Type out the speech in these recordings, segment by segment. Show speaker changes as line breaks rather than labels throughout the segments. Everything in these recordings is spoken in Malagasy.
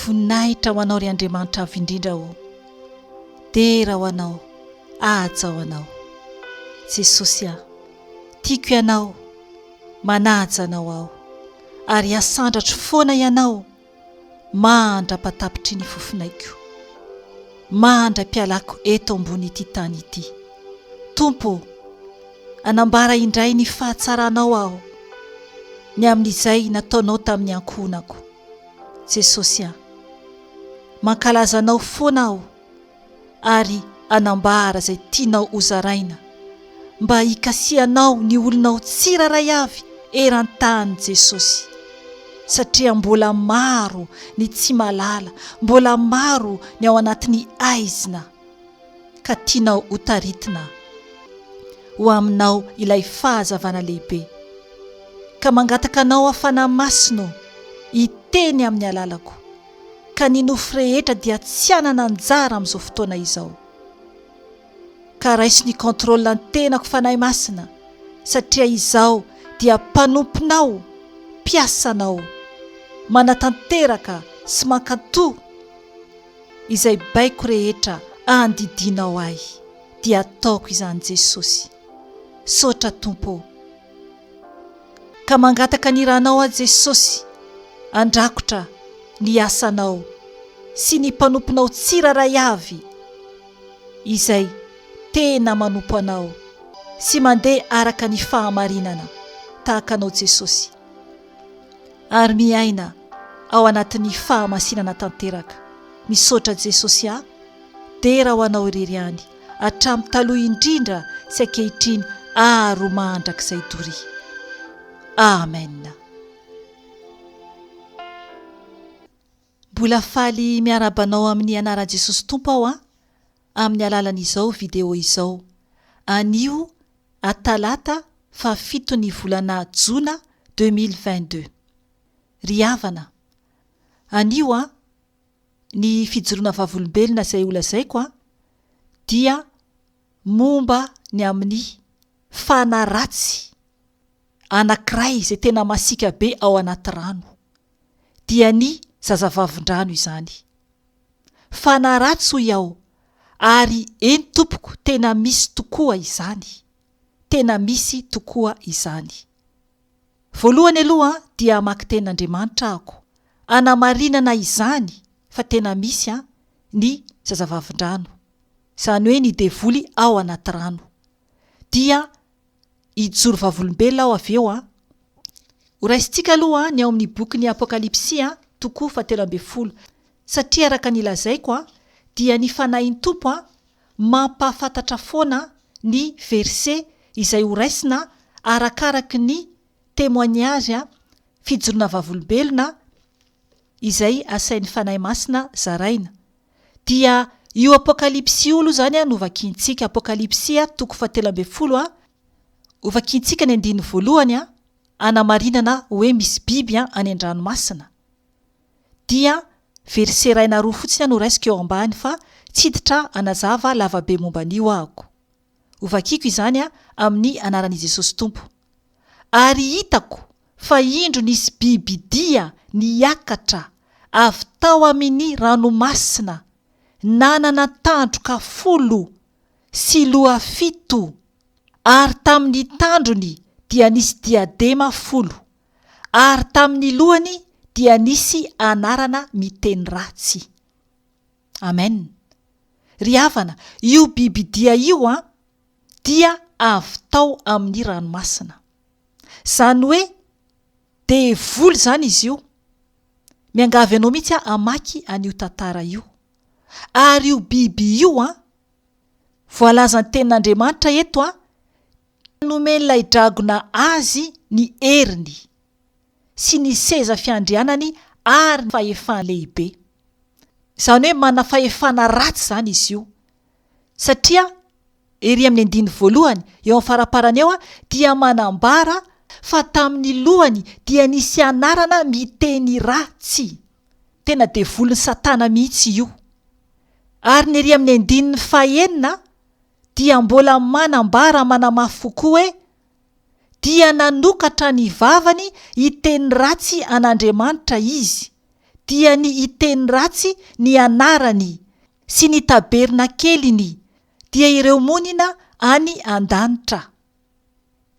Voninahitra ho Anao ry Andriamanitra Avo Indrindra o! Dera ho Anao, ahajao Anao. Jesosy a! Tiako Ianao, manaja Anao aho, ary hasandratro foana Ianao. maha andra-patapitry ny fofonaiko, maha andrai-pialako eto ambony ity tany ity. Tompo ô, anambara indray ny fahatsaranao aho, ny amin'izay nataonao tamin'ny ankohonako. Jesosy an! Mankalaza anao foana aho. ary hanambara izay tianao hozaraina, mba hikasihanao ny olonao tsirairay avy eran-tany Jesosy, satria mbola maro ny tsy mahalala, mbola maro ny ao anatin'ny haizina, ka tianao ho taritina ho aminao ilay fahazavana lehibe, ka mangataka anao hafana masino hiteny amin'ny alalako, ka ny nofo rehetra dia tsy hanana anjara amin'izao fotoana izao. Ka raiso ny contrôle ny tenako Fanahy Masina satria izaho dia mpanomponao, mpiasanao, manatanteraka sy mankanto izay baiko rehetra andidianao ahy dia ataoko izany Jesosy. Misaotra Tompo ô. Ka mangataka ny Ranao aho Jesosy handrakotra ny asanao sy ny mpanomponao tsirairay avy izay tena manompo anao sy mandeha araka ny fahamarinana tahaka anao Jesosy ary miaina ao anatin'ny fahamasinana tanteraka. Misaotra Jesosy a! Dera ho anao irery ihany. hatramin'ny taloha indrindra sy ankehitriny ary ho mandrakizay doria. Amen. Mbola faly miarahaba anao amin'ny anaran'i Jesosy Tompo aho an, amin'ny alalan'izao video izao. Anio a talata faha fito ny volana jona deux mille vingt deux. Ry havana, anio an, ny fijoroana vavolombelona izay holazaiko an, dia momba ny amin'ny fana ratsy anankiray izay tena masiaka be ao anaty rano, dia ny zazavavin-drano izany. Fana ratsy hoy aho, ary eny tompoko tena misy tokoa izany, tena misy tokoa izany. Voalohany aloha dia hamaky tenin' Andriamanitra ahako hanamarinana izany fa tena misy ny zazavavindrano, izany hoe ny devoly ao anaty rano. Dia hijoro vavolombelona aho avy eo. Horaisintsika aloha ny ao amin'ny bokin'ny Apokalypsy, toko fahatelo ambin'ny folo, satria araka ny lazaiko dia ny Fanahin'ny Tompo mampahafantatra foana ny verse izay ho raisina arakaraky ny témoignage, fijoroana vavolombelona, izay asain'ny Fanahy Masina zaraina. Dia io Apokalypsy io aloha izany no vakiantsika, Apokalypsy toko fahatelo ambin'ny folo, hovakiantsika ny andininy voalohany, hanamarinana hoe misy biby any an-dranomasina. dia verset iray na roa fotsiny aho no raisiko eo ambany fa tsy hiditra hanazava lavabe momba an'io ahako. Hovakiko izany amin'ny anaran'i Jesosy Tompo. Ary hitako fa indro nisy bibidia niakatra avy tao amin'i ranomasina nanana tandroka folo sy loha fito, ary tamin'ny tandrony dia nisy diadema folo, ary tamin'ny lohany dia nisy anarana miteny ratsy. Amen. Ry havana, io bibidia io an, dia avy tao amin'ny ranomasina. Izany hoe devoly izany izy io. Miangavy anao mihitsy aho hamaky an'io tantara io. Ary io biby io an, voalazan'ny tenin'Andriamanitra eto an, Nomen'ilay dragona azy ny heriny sy ny seza fiandrianany ary ny fahefana lehibe. Izany hoe manana fahefana ratsy izany izy io. Satria ery amin'ny andininy voalohany eo amin'ny faraparany eo dia manambara fa tamin'ny lohany dia nisy anarana miteny ratsy. Tena devolin'i Satana mihitsy io. Ary ny ery amin'ny andininy fahenina. dia mbola manambara manamafy fo koa hoe, Dia nanokatra ny vavany hiteny ratsy an'Andriamanitra izy, dia ny hiteny ratsy ny anarany sy ny tabernakeliny, dia ireo monina any an-danitra.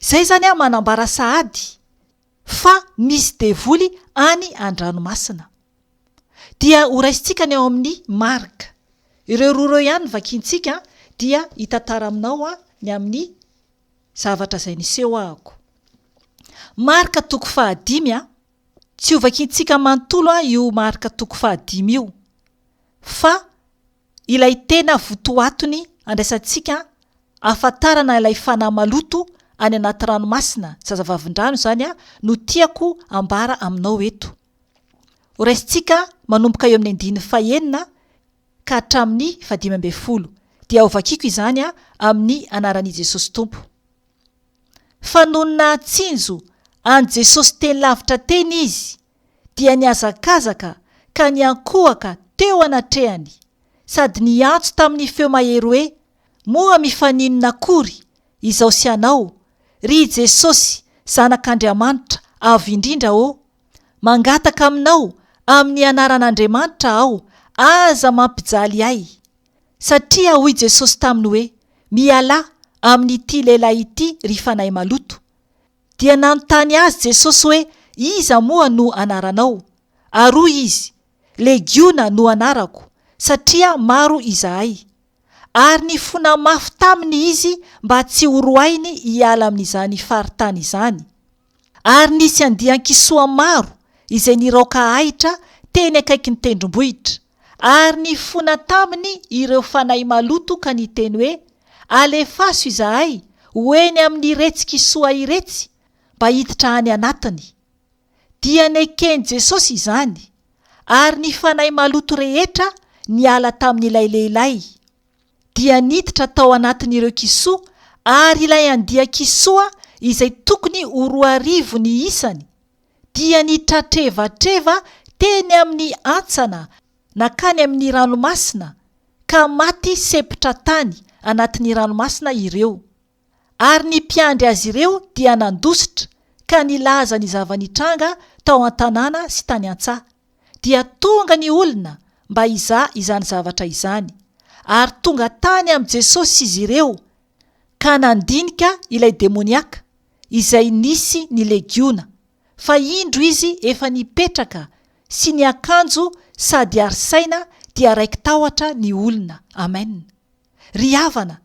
Izay izany manambara sahady fa misy devoly any an-dranomasina. Dia ho raisintsika ny ao amin'ny Marc. Ireo roa ireo ihany no vakiantsika dia hitantara aminao ny amin'ny zavatra izay nisehôako. Marc toko fahadimy, tsy ho vakiantsika manontolo io Marc toko fahadimy io fa ilay tena votoatony andraisantsika ahafantarana ilay fanahy maloto any anaty ranomasina, zazavavindrano izany, no tiako ambara aminao eto. Horaisintsika manomboka eo amin'ny andininy fahenina ka hatramin'ny fahadimy ambin'ny folo, dia hovakiko izany amin'ny anaran'i Jesosy Tompo. Fa nony nahatsinjo an'i Jesosy teny lavitra teny izy, dia nihazakazaka ka niankohoka teo anatrehany sady niantso tamin'ny feo mahery hoe, Moa mifaninona akory izaho sy ianao, ry i Jesosy Zanak'Andriamanitra Avo Indrindra ô? Mangataka aminao amin'ny anaran'Andriamanitra aho, aza mampijaly ahy! Satria hoy Jesosy taminy hoe, Mialà amin'ity lehilahy ity ry fanahy maloto! Dia nanontany azy Jesosy hoe, Iza moa no anaranao? Ary hoy izy, Legiona no anarako, satria maro izahay. Ary nifona mafy taminy izy mba tsy horoahiny hiala amin'izany faritany izany. Ary nisy andian-kisoa maro izay niraoka ahitra teny akaikin'ny tendrombohitra. Ary nifona taminy ireo fanahy maloto ka niteny hoe, Alefaso izahay ho eny amin'iretsy kisoa iretsy, mba hiditra any anatiny. Dia neken'i Jesosy izany, ary ny fanahy maloto rehetra niala tamin'ilay lehilahy. Dia niditra tao anatin'ireo kisoa, ary ilay andia-kisoa izay tokony ho roa arivo ny isany, dia nitratrevatreva teny amin'ny antsana nankany amin'ny ranomasina ka maty sepotra tany anatin'ny ranomasina ireo, ary ny mpiandry azy ireo dia nandositra ka nilaza ny zava-nitranga tao an-tanàna sy tany an-tsaha, dia tonga ny olona mba hizaha izany zavatra izany, ary tonga tany amin'i Jesosy izy ireo. ka nandinika ilay demoniaka izay nisy ny legiona, fa indro izy efa nipetraka sy niakanjo sady ary saina dia raiki-tahotra ny olona. Amen. Ry havana,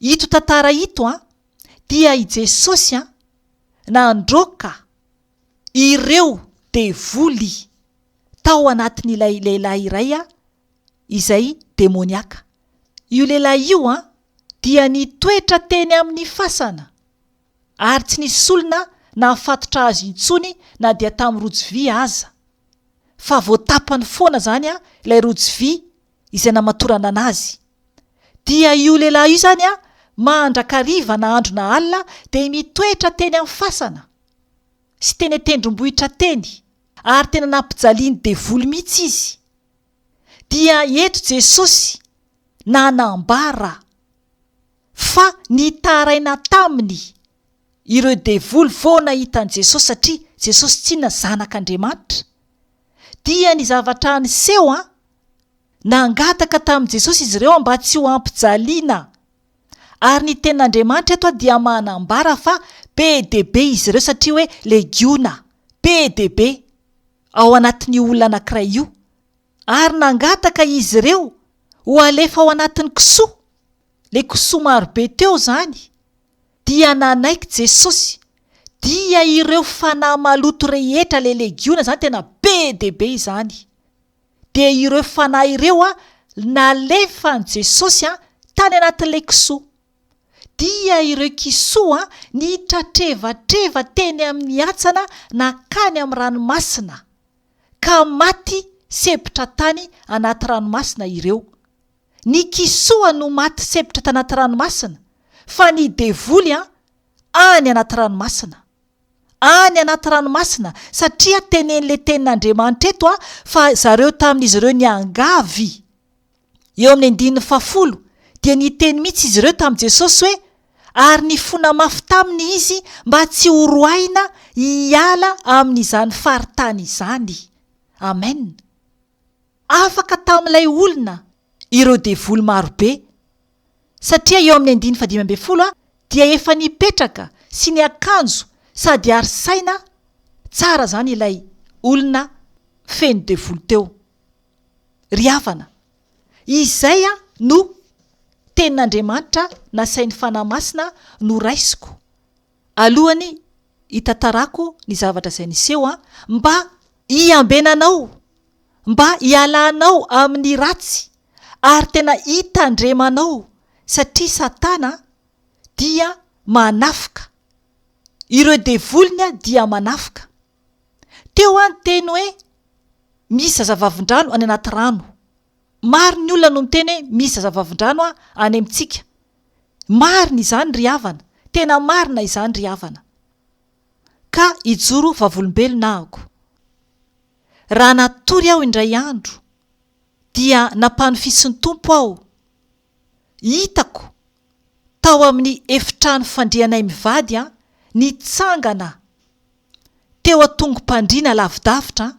ito tantara ito an, dia i Jesosy an, nandroaka ireo devoly tao anatin'ilay lehilahy iray an, izay demoniaka. Io lehilahy io dia nitoetra teny amin'ny fasana, ary tsy nisy olona nahafatotra azy intsony na dia tamin'ny rojo vy aza, fa voatapany foana izany ilay rojo vy izay namatoranana azy. Dia io lehilahy io izany mandrakariva na andro na alina dia mitoetra teny amin'ny fasana sy teny an-tendrombohitra teny, ary tena nampijalian'ny devoly mihitsy izy. dia eto Jesosy nanambara fa nitaraina taminy ireo devoly vao nahita an'i Jesosy satria Jesosy tsinona zanak'Andriamanitra dia ny zavatra niseho an nangataka tamin'i Jesosy izy ireo mba tsy ho ampijaliana ary ny tenin'Andriamanitra eto dia manambara fa be dia be izy ireo satria hoe legiona be dia be ao anatin'io olona anankiray io ary nangataka izy ireo ho alefa ao anatin'ny kisoa, ilay kisoa marobe teo izany, dia nanaiky Jesosy, dia ireo fanahy maloto rehetra, ilay legiona izany tena be dia be izany, dia ireo fanahy ireo nalefan'i Jesosy tany anatin'ilay kisoa. dia ireo kisoa nitratrevatreva teny amin'ny hatsana nankany amin'ny ranomasina ka maty sempotra tany anaty ranomasina ireo. Ny kisoa no maty sempotra tanaty ranomasina fa ny devoly an, any anaty ranomasina. Any anaty ranomasina satria tenen'le tenin'Andriamanitra eto fa zareo tamin'izy ireo niangavy Eo amin'ny andininy fahafolo dia niteny mihitsy izy ireo tamin'i Jesosy hoe, Ary nifona mafy taminy izy mba tsy ho roahina hiala amin'izany faritany izany. Amen. Afaka tamin'ilay olona ireo devoly maro be. Satria eo amin'ny andininy fahadimy ambin'ny folo dia efa nipetraka sy niakanjo sady ary saina tsara izany ilay olona feno devoly teo. Ry havana, izay no Tenin'Andriamanitra nasain'ny Fanahy Masina noraisiko alohan'ny hitantarako ny zavatra izay niseho, mba hiambenanao, mba hialanao amin'ny ratsy ary tena hitandremanao, satria Satana dia manafoka, ireo devoliny dia manafoka. Teo aho niteny hoe misy zazavavindrano any anaty rano. Maro ny olona no miteny hoe misy zazavavindrano any amintsika. Marina izany ry havana, tena marina izany ry havana. Ka hijoro vavolombelona ahako. Raha natory aho indray andro dia nampanofisin'ny Tompo aho. hitako tao amin'ny efitrano fandrianay mivady an, nitsangana teo an-tongom-pandriana lavidavitra an,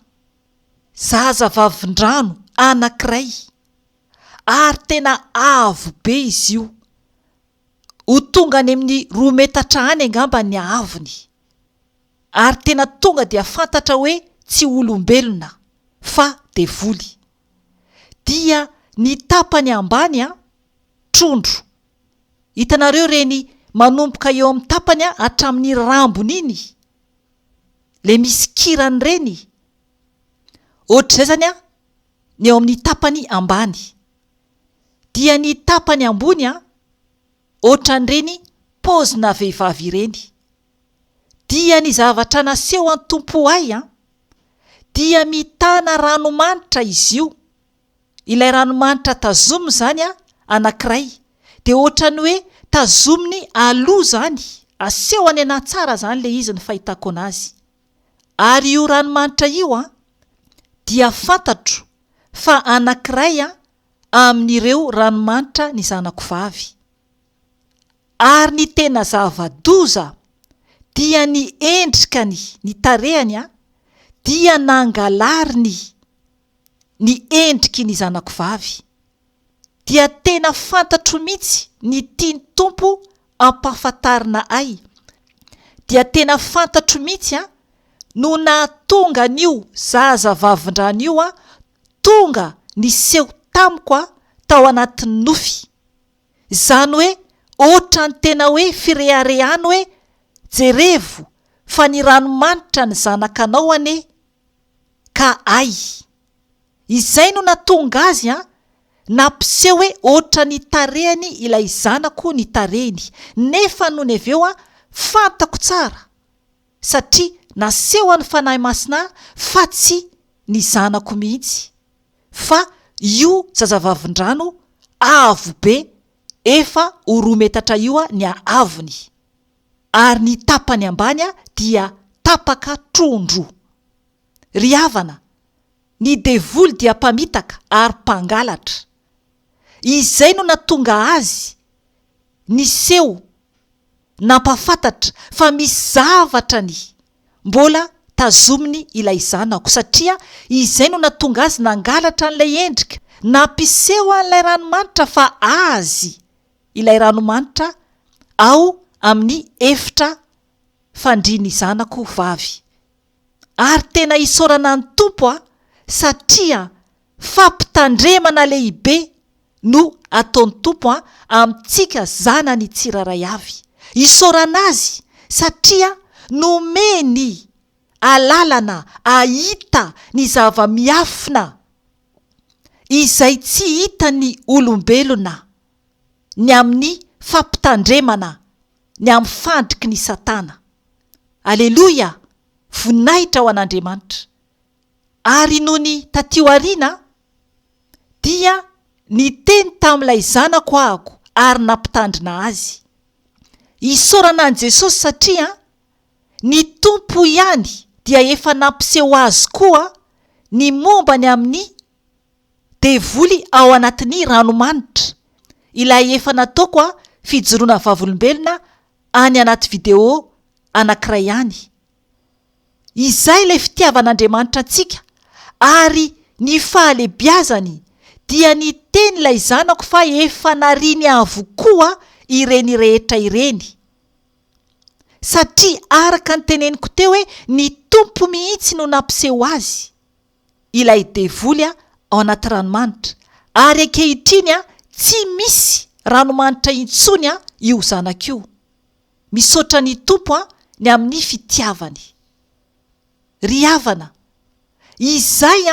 zaza vavin-drano anankiray, ary tena avo be izy io, ho tonga any amin'ny roa metatra any angamba ny haavony, ary tena tonga dia fantatra hoe tsy olombelona fa devoly. dia ny tapany ambany an, trondro. Hitanareo ireny manomboka eo amin'ny tapany an, hatramin'ny rambony iny, ilay misy kirany ireny. Ohatr'izay izany an, ny eo amin'ny tapany ambany. Dia ny tapany ambony an, ohatran'ireny paozina vehivavy ireny. Dia ny zavatra nasehon'ny Tompo ahy an, dia mitana ranomanitra izy io, ilay ranomanitra tazominy izany an, anankiray, dia ohatran'ny hoe tazominy aloha izany, asehony anahy tsara izany ilay izy ny fahitako anazy. Ary io ranomanitra io an, dia fantatro fa anankiray an, amin'ireo ranomanitra ny zanako vavy. Ary ny tena zava-doza dia ny endrikany, ny tarehany dia nangalariny ny endriky ny zanako vavy, dia tena fantatro mihitsy ny tian'ny Tompo ampahafantarina ahy, dia tena fantatro mihitsy no nahatonga an'io zaza vavindrano io tonga niseho tamiko tao anatin'ny nofy. Izany hoe ohatran'ny tena hoe fireharehana hoe jerevo fa ny ranomanitra ny zanakanao anie ka hay! Izay no natonga azy an! Nampiseho hoe ohatran'ny tarehiny ilay zanako ny tarehiny nefa nony avy eo an fantako tsara satria nasehon'ny Fanahy Masina ahy fa tsy ny zanako mihitsy fa io zazavavin-drano avo be efa ho roa metatra io ny haavony, ary ny tapany ambany dia tapaka tron-droa. Ry havana, ny devoly dia mpamitaka ary mpangalatra. Izay no natonga azy niseho nampahafantatra fa misy zavatra ny mbola tazominy ilay zanako satria izay no natonga azy nangalatra an'ilay endrika nampiseho an'ilay ranomanitra fa azy ilay ranomanitra ao amin'ny efitra fandrian'ny zanako vavy. ary tena isaorana ny Tompo aho satria fampitandremana lehibe no ataony Tompo an amintsika zanany tsiraray avy, isaorana Azy satria nomeny alalana ahita ny zava-miafina izay tsy hitan'ny olombelona ny amin'ny fampitandremana ny amin'ny fandriky ny satana. Aleloia! Voninahitra ho an'Andriamanitra. Ary nony taty aoriana dia niteny tamin'ilay zanako ahako ary nampitandrina azy. Isaorana an'i Jesosy satria ny Tompo ihany dia efa nampiseho azy koa ny momba ny amin'ny Devoly ao anatin'ny ranomanitra ilay efa nataoko fijoroana vavolombelona any anaty video anankiray any. Izay ilay fitiavan'Andriamanitra antsika ary ny fahalebiazany dia niteny ilay zanako fa efa nariany avokoa ireny rehetra ireny. Satria araka ny teneniko teo hoe ny Tompo mihitsy no nampiseho azy. ilay devoly ao anaty ranomanitra, ary ankehitriny tsy misy ranomanitra intsony io zanako io, misaotra ny Tompo ny amin'ny fitiavany. Ry havana, izay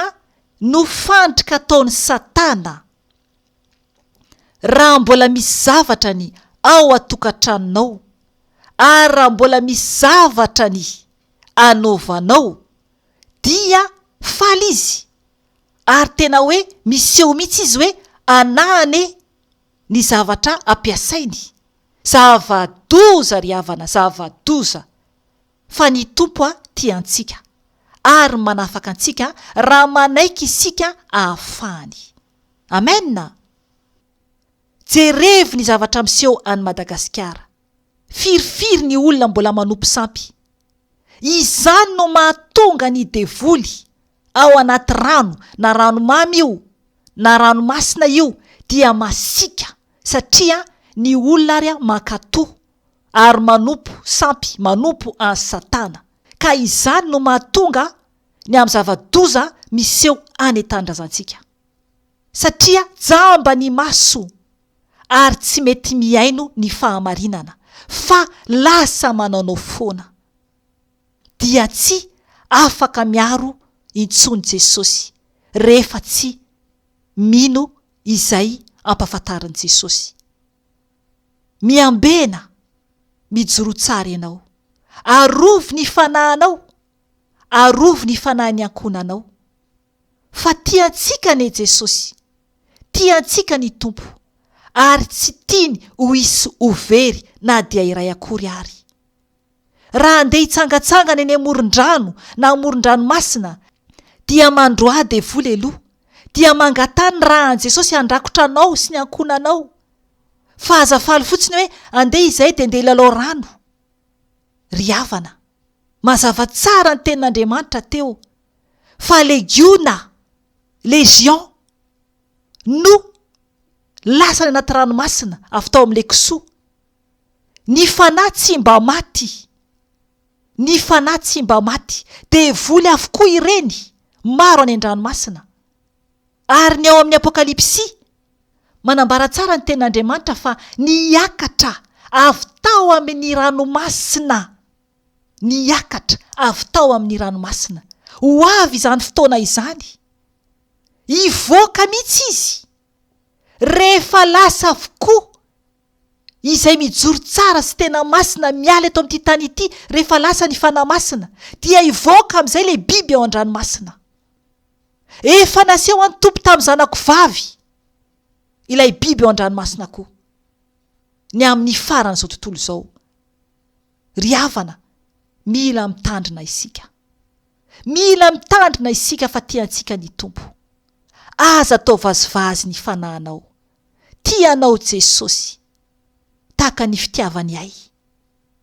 no fandrika ataon'i Satana. Raha mbola misy zavatra ny ao an-tokantranonao, ary raha mbola misy zavatra ny anaovanao, dia faly izy ary tena hoe miseho mihitsy izy hoe anah anie ny zavatra ampiasainy, zava-doza ry havana, zava-doza fa ny Tompo tia antsika ary manafaka antsika raha manaiky isika ahafahany. Amen a! Jerevo ny zavatra miseho any Madagasikara. Firifiry ny olona mbola manopy sampy. Izany no mahatonga ny devoly ao anaty rano na ranomamy io na ranomasina io dia masiaka satria ny olona ary mankato ary manompo sampy manompo an'i satana ka izany no mahatonga ny amin'ny zava-doza miseho any an-tanindrazantsika satria jamba ny maso ary tsy mety mihaino ny fahamarinana fa lasa manaonao foana. Dia tsy afaka miaro intsony Jesosy rehefa tsy mino izay ampafantarin'i Jesosy. Miambena, mijoroa tsara ianao. Arovy ny fanahinao, arovy ny fanahin'ny ankohonanao. fa tia antsika anie Jesosy, tia antsika ny Tompo ary tsy tiany ho hisy ho very na dia iray akory ary. Raha handeha hitsangatsangana eny amoron-drano na amoron-dranomasina dia mandroaha devoly aloha dia mangataha ny ra an'i Jesosy handrakotra anao sy ny ankohonanao fa aza faly fotsiny hoe andeha izay dia ndeha hilalao rano. Ry havana, mazava tsara ny tenin'Andriamanitra teo. fa legiona, légion, no lasany anaty ranomasina avy tao amin'ilay kisoa. Ny fanahy tsy mba maty. Ny fanahy tsy mba maty. Devoly avokoa ireny, maro any an-dranomasina. Ary ny ao amin'ny Apokalypsy, manambara tsara ny tenin'Andriamanitra fa niakatra avy tao amin'ny ranomasina niakatra avy tao amin'ny ranomasina. Ho avy izany fotoana izany. Hivoaka mihitsy izy, rehefa lasa avokoa izay mijoro tsara sy tena masina miala eto amin'ity tany ity, rehefa lasa ny Fanahy Masina, dia hivoaka amin'izay ilay biby ao an-dranomasina. Efa naseho an'ny Tompo tamin'ny zanako vavy ilay biby ao an-dranomasina koa, ny amin'ny faran'izao tontolo izao. Ry havana, mila mitandrina isika. Mila mitandrina isika fa tia antsika ny Tompo. Aza atao vazivazy ny fanahinao. Tia anao Jesosy. Tahaka ny fitiavany ahy.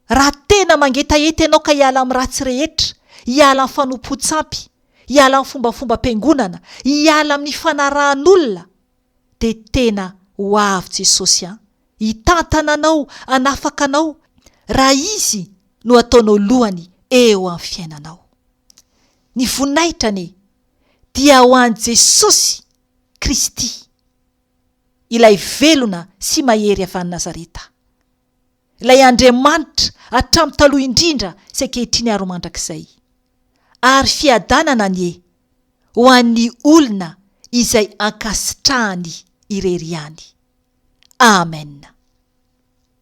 Raha tena mangetaheta ianao ka hiala amin'ny ratsy rehetra, hiala amin'ny fanompoan-tsampy, hiala amin'ny fombafombam-piangonana, hiala amin'ny fanarahan'olona, dia tena ho avy Jesosy an! hitantana anao hanafaka anao raha Izy no ataonao lohany eo amin'ny fiainanao. Ny voninahitra anie dia ho an'i Jesosy Kristy, ilay velona sy mahery avy any Nazareta. Ilay Andriamanitra hatramin'ny taloha indrindra sy ankehitriny ary ho mandrakizay. Ary fiadanana anie ho an'ny olona izay ankasitrahany irery ihany. Amen.